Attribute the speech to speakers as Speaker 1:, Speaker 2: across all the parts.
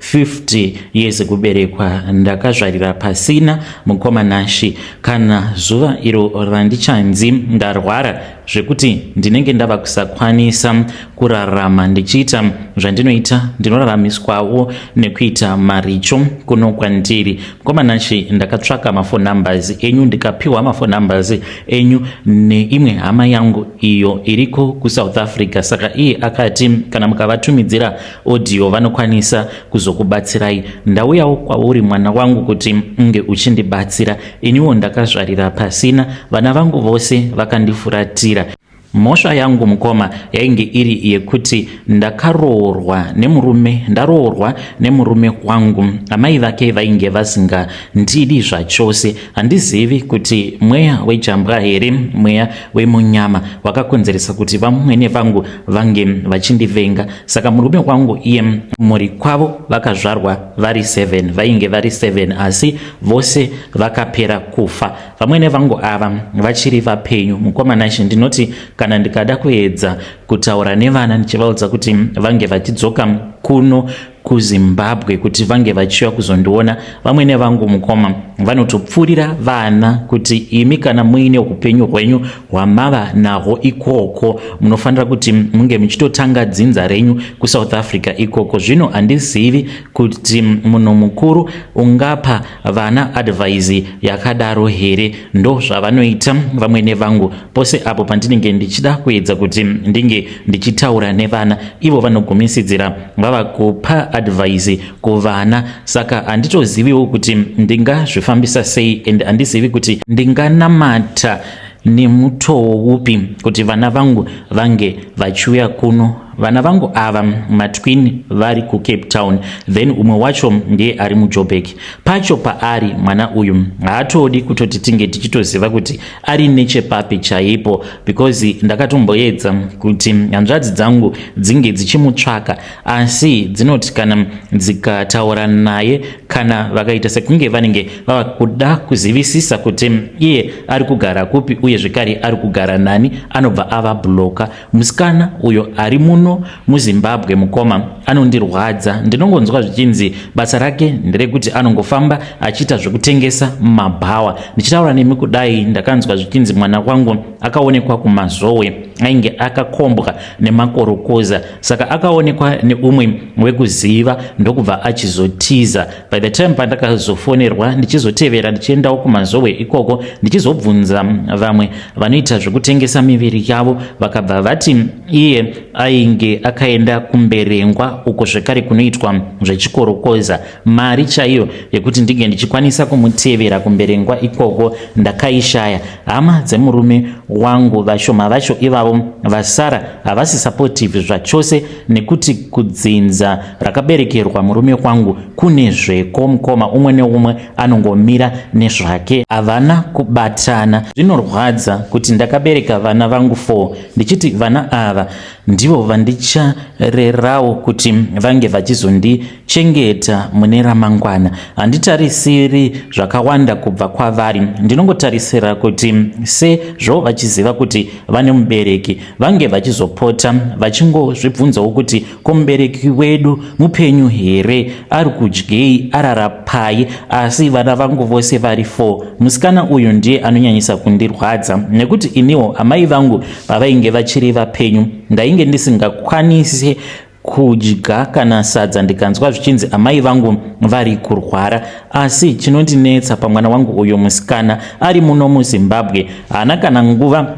Speaker 1: 50 years kuberekwa ndakazvarira pasina mukoma Nashi kana zuva iro randichanzi ndarwara zvekuti ndinenge ndava kusakwanisa kurarama ndichiita zvandinoita ndinoraramiswawo nekuita maricho kuno kwandiri mukoma Nashi ndakatsvaka mafone numbers enyu ndikapiwa mafone numbers enyu neimwe hama yangu iyo iriko kusouth africa saka iye akati kana mukavatumidzira Audio vanokwanisa kuzokubatsirai. Ndauyawo kwauri mwana wangu kuti unge uchindibatsira. Iniwo ndakazvarira pasina, vana vangu vose vakandifuratira. Mhosva yangu mukoma yainge iri yekuti ndakaroorwa nemurume ndaroorwa nemurume wangu amai vake vainge vasingandidi zvachose Handizivi kuti mweya wejambwa here mweya wemunyama wakakonzeresa kuti vamwene vangu vange vachindivenga. Saka murume wangu iye mhuri kwavo vakazvarwa vari 7 vainge vari 7 asi vose vakapera kufa. Vamwene vangu ava vachiri vapenyu. Mukoma Nashe ndinoti kana ndikada kuedza kutaura nevana ndichivaudza kuti vange vachidzoka kuno kuzimbabwe kuti vange vachiuya kuzondiona vamwene vangu mukoma vanotopfuurira vana kuti imi kana muine upenyu hwenyu hwamava nahwo ikoko munofanira kuti munge muchitotanga dzinza renyu kusouth africa ikoko zvino handizivi kuti munhu mukuru ungapa vana advhaisi yakadaro here ndo zvavanoita vamwene vangu Pose apo pandinenge ndichida kuedza kuti ndinge ndichitaura nevana, ivo vanogumisidzira vava kupa advhaisi kuvana. Saka handitoziviwo kuti ndingazvifambisa sei and handizivi kuti ndinganamata nemutowo upi kuti vana vangu vange vachiuya kuno vana vangu ava matwin vari kucape town then umwe wacho ndiye ari mujobek pacho paari mwana uyu haatodi kutoti tinge tichitoziva kuti ari nechepapi chaipo because ndakatomboedza kuti hanzvadzi dzangu dzinge dzichimutsvaka asi dzinoti kana dzikataura naye kana vakaita sekunge vanenge vava kuda kuzivisisa kuti iye ari kugara kupi uye zvekare ari kugara nani anobva ava bloka Msikana uyo ari muno muZimbabwe mukoma anondirwadza ndinongonzwa zvichinzi basa rake nderekuti anongofamba achiita zvekutengesa mabhawa ndichitaura nemi kudai ndakanzwa zvichinzi mwana wangu akaonekwa kumazowe ainge akakombwa nemakorokoza saka akaonekwa neumwe wekuziva ndokubva achizotiza by the time pandakazofonerwa ndichizotevera ndichiendawo kumazowe ikoko ndichizobvunza vamwe vanoita zvekutengesa miviri yavo vakabva vati iye ainge akaenda kumberengwa uko zvekare kunoitwa zvechikorokoza mari chaiyo yekuti ndinge ndichikwanisa kumutevera kumberengwa ikoko ndakaishaya hama dzemurume wangu vashoma vacho ivavo vasara havasi supportive zvachose nekuti kudzinza rakaberekerwa murume kwangu kune zveko mukoma umwe neumwe anongomira nezvake havana kubatana zvinorwadza kuti ndakabereka vana vangu fo ndichiti vana ava ndivo vandicharerawo kuti vange vachizondii chengeta mune ramangwana handitarisiri zvakawanda kubva kwavari ndinongotarisira kuti sezvo vachiziva kuti vane mubereki vange vachizopota vachingozvibvunzawo kuti ko mubereki wedu mupenyu here ari kudyei ararapai asi vana vangu vose vari four musikana uyu ndiye anonyanyisa kundirwadza nekuti iniwo amai vangu pavainge vachiri vapenyu ndainge ndisingakwanisi kudya kana sadza ndikanzwa zvichinzi amai vangu vari kurwara asi chinondinetsa pamwana wangu uyo musikana ari muno muzimbabwe haana kana nguva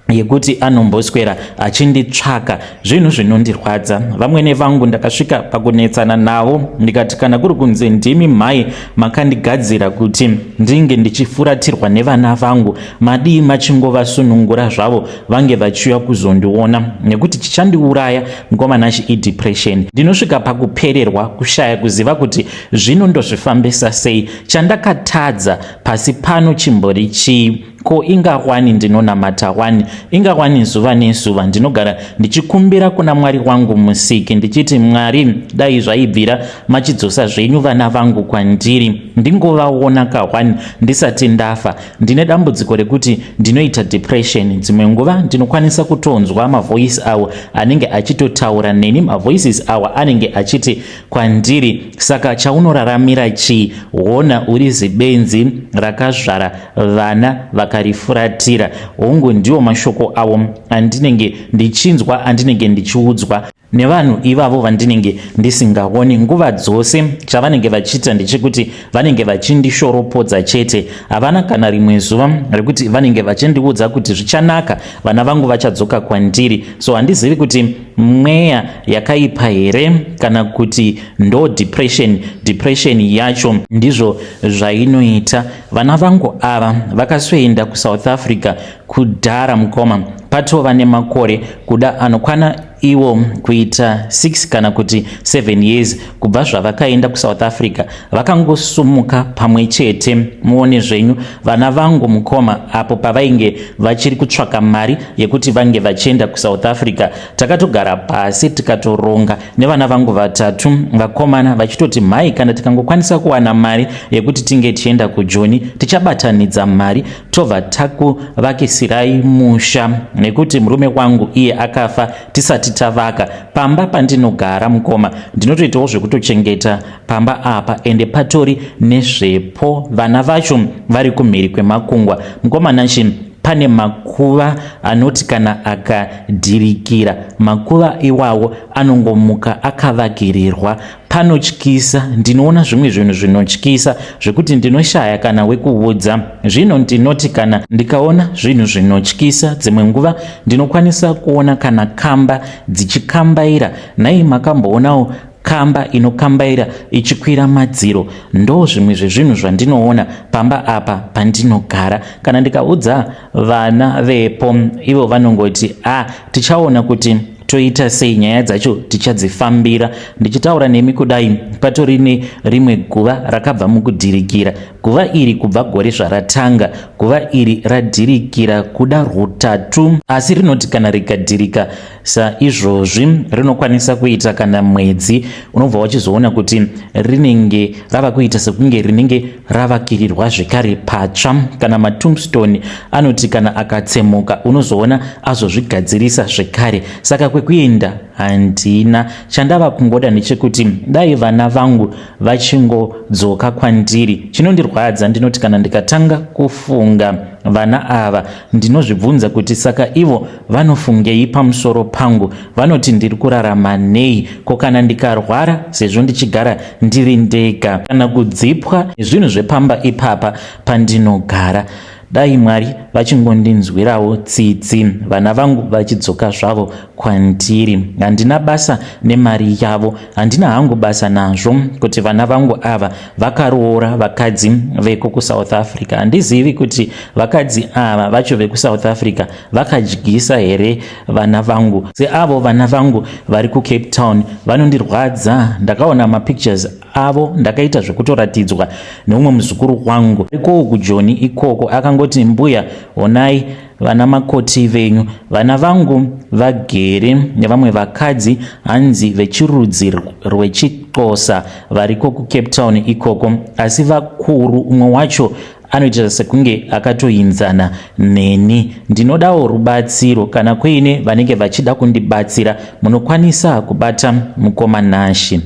Speaker 1: yekuti anomboswera achinditsvaka zvinhu zvinondirwadza vamwene vangu ndakasvika pakunetsana navo ndikati kana kuri kunzi ndimi mhai makandigadzira kuti ndinge ndichifuratirwa nevana vangu madii machingovasunungura zvavo vange vachiuya kuzondiona nekuti chichandiuraya ngoma nachi idepression ndinosvika pakupererwa kushaya kuziva kuti zvino ndozvifambisa sei chandakatadza pasi pano chimbori chii ko ingawani ndinonamata wani ingawani zuva nezuva ndinogara ndichikumbira kuna mwari wangu musiki ndichiti mwari dai zvaibvira machidzosa zvenyu vana vangu kwandiri ndingovaona kawani ndisati ndafa Ndine dambudziko rekuti ndinoita depression dzimwe nguva ndinokwanisa kutonzwa mavoice awo anenge achitotaura neni mavoices awa anenge achiti kwandiri saka chaunoraramira chii hona uri zibenzi rakazvara vana vakarifuratira hongu ndiwo mashoko awo andinenge ndichinzwa andinenge ndichiudzwa nevanhu ivavo vandinenge ndisingaoni nguva dzose chavanenge vachiita ndechekuti vanenge vachindishoropodza chete havana kana rimwe zuva rekuti vanenge vachindiudza kuti zvichanaka vana vangu vachadzoka kwandiri so handizivi kuti mweya yakaipa here kana kuti ndo depression depression yacho ndizvo zvainoita vana vangu ava vakasoenda kusouth africa Kudhara mukoma patova nemakore kuda anokwana iwo kuita 6 kana kuti 7 years kubva zvavakaenda kusouth africa vakangosumuka pamwe chete muone zvenyu vana vangu mukoma apo pavainge vachiri kutsvaka mari yekuti vange vachienda kusouth africa takatogara pasi tikatoronga nevana vangu vatatu vakomana vachitoti mhai kana tikangokwanisa kuwana mari yekuti tinge tichienda kujoni tichabatanidza mari tobva takuvakisirai musha nekuti murume wangu iye akafa tisati tavaka pamba pandinogara mukoma ndinotoitawo zvekutochengeta pamba apa ende patori nezvepo vana vacho vari kumhiri kwemakungwa mukoma nashi pane makuva anoti kana akadhirikira makuva iwawo anongomuka akavagirirwa panotyisa ndinoona zvimwe zvinhu zvinotyisa zvekuti ndinoshaya kana wekuudza zvino ndinoti kana ndikaona zvinhu zvinotyisa dzimwe nguva ndinokwanisa kuona kana kamba dzichikambaira nhai makamboonawo kamba inokambaira ichikwira madziro ndo zvimwe zvezvinhu zvandinoona pamba apa pandinogara kana ndikaudza vana vepo ivo vanongoti a ah, tichaona kuti toita sei nyaya dzacho tichadzifambira ndichitaura nemi kudai patori nerimwe guva rakabva mukudhirikira guva iri kubva gore zvaratanga guva iri radhirikira kuda rutatu asi rinoti kana rikadhirika saizvozvi rinokwanisa kuita kana mwedzi unobva wachizoona kuti rinenge rava kuita sekunge rinenge ravakirirwa zvekare patsva kana matombstone anoti kana akatsemuka unozoona azozvigadzirisa zvekare saka kwekuenda handina chandava kungoda ndechekuti dai vana vangu vachingodzoka kwandiri chinondirwadza ndinoti kana ndikatanga kufunga vana ava Ndinozvibvunza kuti saka ivo vanofungei pamusoro pangu, vanoti ndiri kurarama nei, ko kana ndikarwara sezvo ndichigara ndiri ndega kana kudzipwa nezvinhu zvepamba ipapa pandinogara. Dai Mwari vachingondinzwirawo tsitsi, vana vangu vachidzoka zvavo kwandiri. Handina basa nemari yavo, handina hangu basa nazvo kuti vana vangu ava vakaroora vakadzi veko kusouth africa handizivi kuti vakadzi ava vacho vekusouth africa vakadyisa here vana vangu seavo vana vangu vari kucape town vanondirwadza ndakaona mapictures avo ndakaita zvekutoratidzwa neumwe muzukuru wangu arikowo kujoni ikoko akangoti mbuya onai vana makoti venyu vana vangu vagere nevamwe vakadzi hanzi vechirudzi rwechixosa variko kucape town ikoko asi vakuru umwe wacho anoita sekunge akatoinzana neni ndinodawo rubatsiro kana kuine vanenge vachida kundibatsira munokwanisa kubata mukoma nashi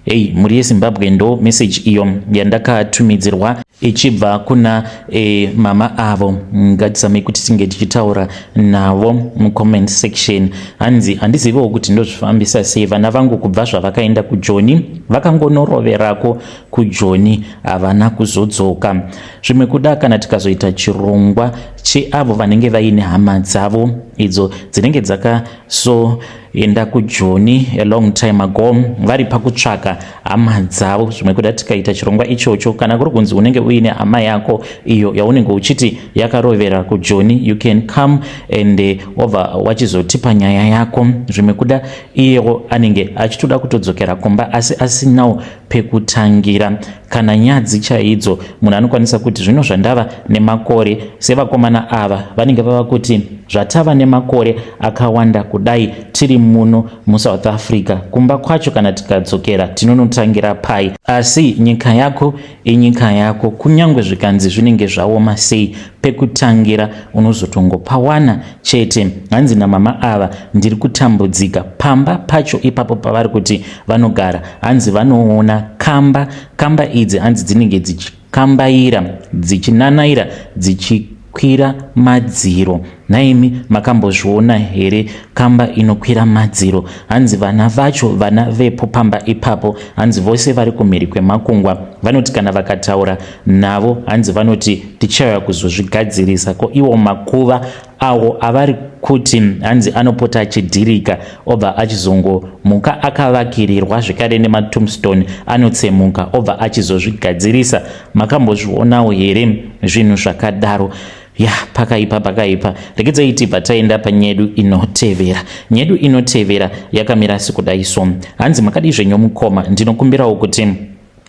Speaker 1: Hey, mhuri yezimbabwe ndo message iyo yandakatumidzirwa ichibva kuna e, mama avo ngatizamei kuti tinge tichitaura navo mucomment section hanzi handizivewo kuti ndozvifambisa sei vana vangu kubva zvavakaenda kujoni vakangonoroverako kujoni havana kuzodzoka zvimwe kuda kana tikazoita chirongwa cheavo vanenge vaine hama dzavo idzo dzinenge dzaka so enda kujoni a long time ago vari pakutsvaka hama dzavo zvimwe kuda tikaita chirongwa ichocho kana kuri kunzi unenge uine hama yako iyo yaunenge uchiti yakarovera kujoni you can come and eh, obva wachizotipa nyaya yako zvimwe kuda iyewo anenge achitoda kutodzokera kumba asi asinawo pekutangira kana nyadzi chaidzo munhu anokwanisa kuti zvino zvandava nemakore sevakomana ava vanenge vava kuti zvatava nemakore akawanda kudai tiri muno musouth africa kumba kwacho kana tikadzokera tinonotangira pai asi nyika yako inyika yako kunyange zvikanzi zvinenge zvaoma sei pekutangira unozotongopawana chete hanzi namama ava ndiri kutambudzika pamba pacho ipapo pavari kuti vanogara hanzi vanoona kamba kamba idzi hanzi dzinenge dzichikambaira dzichinanaira dzichikwira madziro nhaimi makambozviona here kamba inokwira madziro hanzi vana vacho vana vepo pamba ipapo hanzi vose vari kumhiri kwemakungwa vanoti kana vakataura navo hanzi vanoti tichauya kuzozvigadzirisa ko iwo makuva awo avari kuti hanzi anopota achidhirika obva achizongomuka akavakirirwa zvekare nematombstone anotsemuka obva achizozvigadzirisa makambozvionawo here zvinhu zvakadaro ya pakaipa pakaipa regedzai tibva taenda panyedu inotevera nyedu inotevera yakamira sekudaiso hanzi makadizve nyomukoma ndinokumbirawo kuti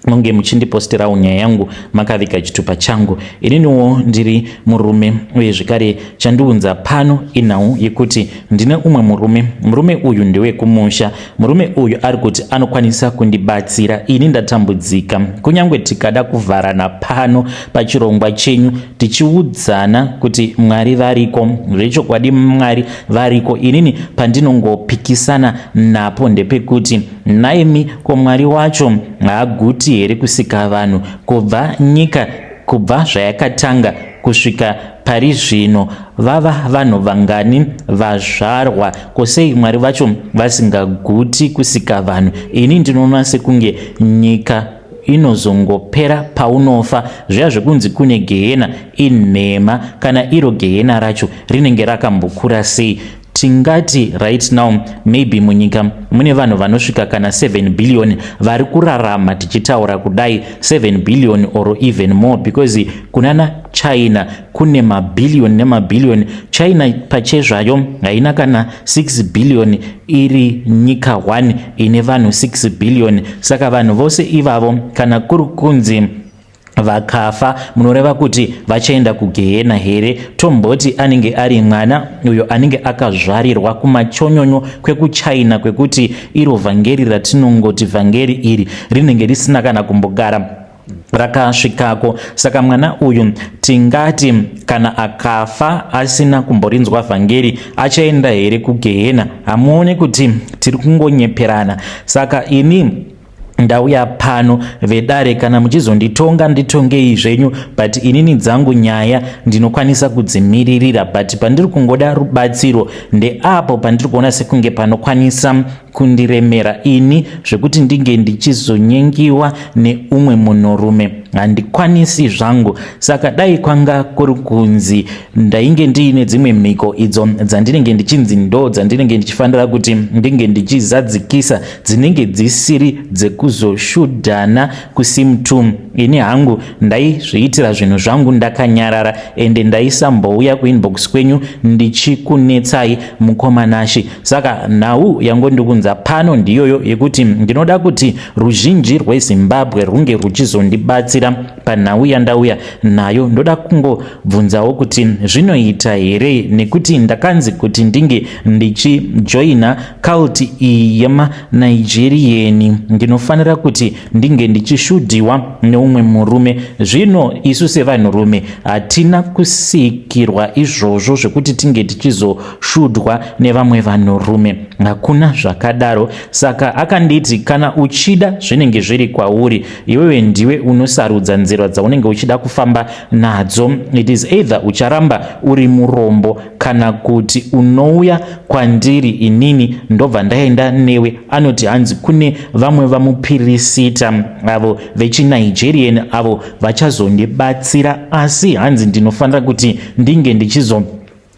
Speaker 1: munge muchindipostirawo nyaya yangu makaviga chitupa changu ininiwo ndiri murume uye zvekare chandiunza pano inhau yekuti ndine umwe murume murume uyu ndewekumusha murume uyu ari kuti anokwanisa kundibatsira ini ndatambudzika kunyange tikada kuvharana pano pachirongwa chenyu tichiudzana kuti mwari variko zvechokwadi mwari variko inini pandinongopikisana napo ndepekuti Nhaimi ko Mwari wacho haaguti here kusika vanhu kubva nyika kubva zvayakatanga kusvika pari zvino vava vanhu vangani vazvarwa ko sei Mwari vacho vasingaguti kusika vanhu ini ndinoona sekunge nyika inozongopera paunofa zviya zvekunzi kune gehena inhema kana iro gehena racho rinenge rakambokura sei Tingati right now maybe munyika mune vanhu vanosvika kana 7 billion vari kurarama tichitaura kudai 7 billion or even more because kunana China kune mabillion nemabillion. China pache zvayo haina kana 6 billion iri nyika 1 ine vanhu 6 billion. Saka vanhu vose ivavo kana kuri kunzi vakafa munoreva kuti vachaenda kugehena here tomboti anenge ari mwana uyo anenge akazvarirwa kumachonyonyo kwekuchina kwekuti iro vhangeri ratinongoti vhangeri iri rinenge risina kana kumbogara rakasvikako saka mwana uyu tingati kana akafa asina kumborinzwa vhangeri achaenda here kugehena hamuone kuti tiri kungonyeperana saka ini ndauya pano vedare kana muchizonditonga nditongei zvenyu but inini dzangu nyaya ndinokwanisa kudzimiririra but pandiri kungoda rubatsiro ndeapo pandiri kuona sekunge panokwanisa kundiremera ini zvekuti ndinge ndichizonyengiwa neumwe munhurume handikwanisi zvangu saka dai kwanga kuri kunzi ndainge ndiine dzimwe mhiko idzo dzandinenge ndichinzi ndo dzandinenge ndichifanira kuti ndinge ndichizadzikisa dzinenge dzisiri dzekuzoshudhana kusimtum ini hangu ndaizviitira zvinhu zvangu ndakanyarara ende ndaisambouya kuinbox kwenyu ndichikunetsai mukomanashi saka nhau yangu ndikunza pano ndiyoyo yekuti ndinoda kuti ruzhinji rwezimbabwe rwunge rwuchizondibatsira Panhau yandauya nayo ndoda kungobvunzawo kuti zvinoita here nekuti ndakanzi kuti ndinge ndichijoina kalti iyi yemanigeriyeni ndinofanira kuti ndinge ndichishudhiwa neumwe murume zvino isu sevanhurume hatina kusikirwa izvozvo zvekuti tinge tichizoshudhwa nevamwe vanhurume hakuna zvakadaro saka akanditi kana uchida zvinenge zviri kwauri iwewe ndiwe unosarudza nzira dzaunenge uchida kufamba nadzo it is either ucharamba uri murombo kana kuti unouya kwandiri inini ndobva ndaenda newe anoti hanzi kune vamwe vamupirisita avo vechinigerian avo vachazondibatsira asi hanzi ndinofanira kuti ndinge ndichizo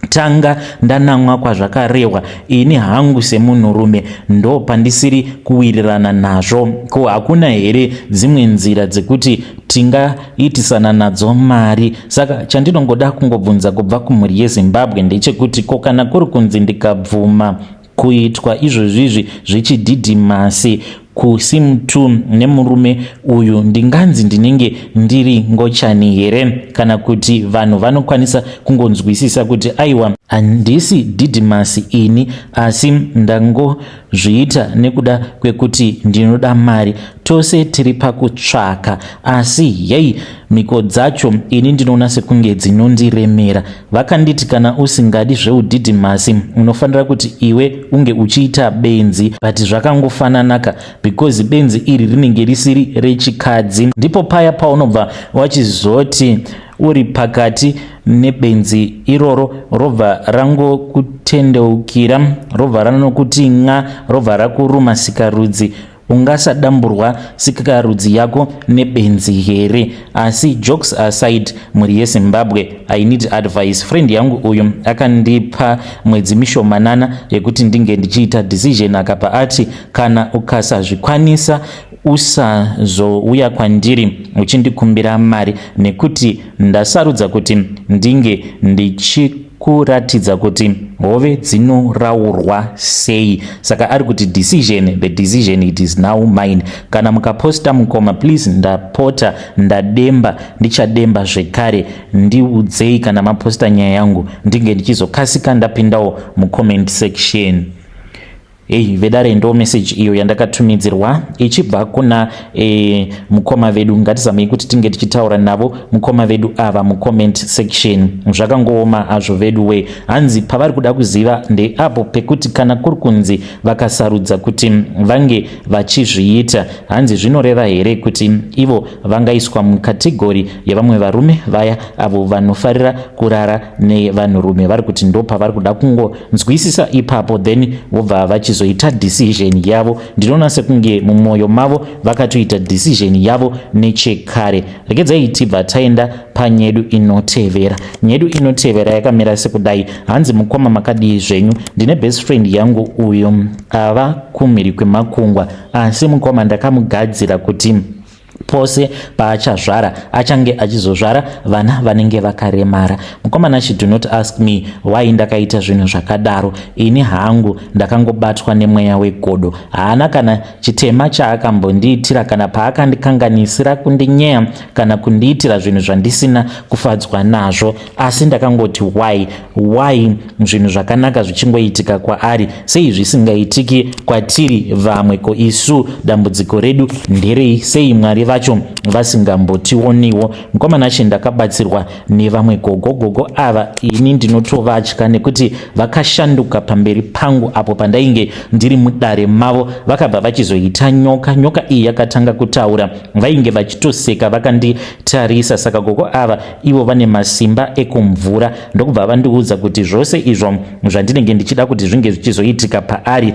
Speaker 1: tanga ndanamwa kwazvakarehwa ini hangu semunhurume ndo pandisiri kuwirirana nazvo ko hakuna here dzimwe nzira dzekuti tingaitisana nadzo mari saka chandinongoda kungobvunza kubva kumhuri yezimbabwe ndechekuti ko kana kuri kunzi ndikabvuma Kuitwa izvozvizvi zvichidhidhimasi kusimtu nemurume uyu ndinganzi ndinenge ndiri ngochani here kana kuti vanhu vanokwanisa kungonzwisisa kuti aiwa handisi dhidhimasi ini asi ndangozviita nekuda kwekuti ndinoda mari tose tiri pakutsvaka asi yei mhiko dzacho ini ndinoona sekunge dzinondiremera vakanditi kana usingadi zveudhidhimasi unofanira kuti iwe unge uchiita benzi but zvakangofananaka because benzi iri rinenge risiri rechikadzi ndipo paya paunobva wachizoti uri pakati nebenzi iroro robva rangokutendeukira robva ranokuti nxa robva rakuruma sikarudzi ungasadamburwa sikarudzi yako nebenzi here asi jokes aside mhuri yezimbabwe i need advice friend yangu uyu akandipa mwedzi mishomanana yekuti ndinge ndichiita decision akabva ati kana ukasazvikwanisa usazouya kwandiri uchindikumbira mari nekuti Ndasarudza kuti ndinge ndichi kuratidza kuti hove dzinoraurwa sei saka ari kuti decision the decision it is now mine kana mukaposta mukoma please ndapota ndademba ndichademba zvekare ndiudzei kana maposta nyaya yangu ndinge ndichizokasika ndapindawo mucomment section Hey, vedare ndo message iyo yandakatumidzirwa ichibva kuna e, mukoma vedu ngatizamei kuti tinge tichitaura navo mukoma vedu ava mucomment section zvakangooma azvo vedu we hanzi pavari kuda kuziva ndeapo pekuti kana kuri kunzi vakasarudza kuti vange vachizviita hanzi zvinoreva here kuti ivo vangaiswa mukategori yevamwe varume vaya avo vanofarira kurara nevanhurume vari kuti ndo pavari kuda kungo nzwisisa ipapo then vobva vachizoita decision yavo ndinoona sekunge mumwoyo mavo vakatoita decision yavo nechekare regedzai tibva taenda panyedu inotevera nyedu inotevera yakamira sekudai hanzi mukoma makadii zvenyu ndine best friend yangu uyu ava kumhiri kwemakungwa asi mukoma ndakamugadzira kuti pose paachazvara achange achizozvara vana vanenge vakaremara mukomana she do not ask me why ndakaita zvinhu zvakadaro ini hangu ndakangobatwa nemweya wegodo haana kana chitema chaakambondiitira kana paakandikanganisira kundinyeya kana kundiitira zvinhu zvandisina kufadzwa nazvo asi ndakangoti why why zvinhu zvakanaka zvichingoitika kwaari sei zvisingaitiki kwatiri vamwe ko isu dambudziko redu nderei sei mwari vacho vasingambotioniwo mukoma nashe ndakabatsirwa nevamwe gogo gogo ava ini ndinotovatya nekuti vakashanduka pamberi pangu apo pandainge ndiri mudare mavo vakabva vachizoita nyoka nyoka iyi yakatanga kutaura vainge vachitoseka vakanditarisa saka gogo ava ivo vane masimba ekumvura ndokubva vandiudza kuti zvose izvo zvandinenge ndichida kuti zvinge zvichizoitika paari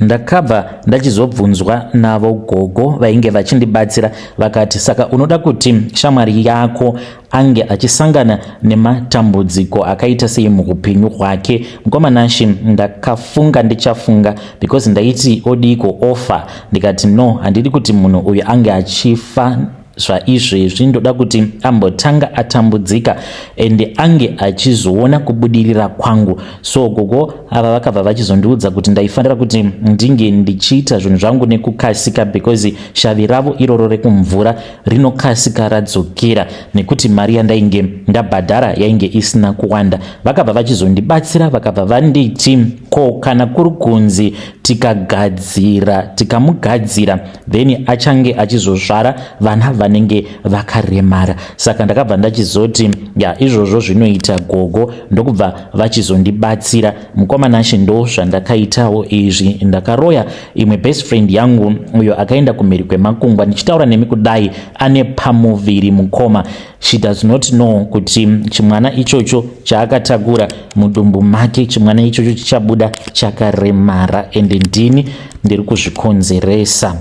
Speaker 1: ndakabva ndachizobvunzwa navo gogo vainge vachindibatsira vakati saka unoda kuti shamwari yako ange achisangana nematambudziko akaita sei muupenyu hwake mukoma nashi ndakafunga ndichafunga because ndaiti odiiko ofa ndikati no handidi kuti munhu uyu ange achifa zvaizvezvi ndoda kuti ambotanga atambudzika ende ange achizoona kubudirira kwangu so gogo ava vakabva vachizondiudza kuti ndaifanira kuti ndinge ndichiita zvinhu zvangu nekukasika because shavi ravo iroro rekumvura rinokasika radzokera nekuti mari yandainge ndabhadhara yainge isina kuwanda vakabva vachizondibatsira vakabva vanditi ko kana kuri kunzi tikagadzira tikamugadzira then achange achizozvara vana vanenge vakaremara saka ndakabva ndachizoti ya izvozvo zvinoita gogo ndokubva vachizondibatsira mukoma nashe ndo zvandakaitawo izvi ndakaroya imwe best friend yangu uyo akaenda kumhiri kwemakungwa ndichitaura nemi kudai ane pamuviri mukoma she does not know kuti chimwana ichocho chaakatakura mudumbu make chimwana ichocho chichabuda chakaremara ende ndini ndiri kuzvikonzeresa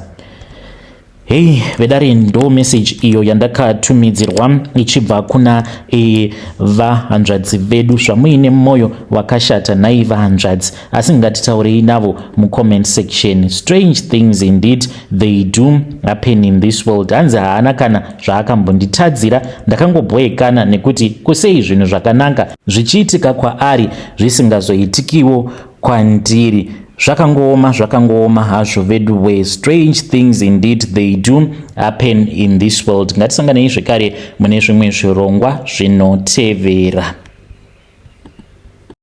Speaker 1: hei vedare ndo meseji iyo yandakatumidzirwa ichibva kuna e, vahanzvadzi vedu zvamuine mwoyo wakashata nhai vahanzvadzi asi ngatitaurei navo mucomment section strange things indeed they do happen in this world hanzi haana kana zvaakambonditadzira ndakangobhoekana nekuti kusei zvinhu zvakanaka zvichiitika kwaari zvisingazoitikiwo kwandiri zvakangooma zvakangooma hazvo vedu we strange things indeed they do happen in this world ngatisanganei zvekare mune zvimwe zvirongwa zvinotevera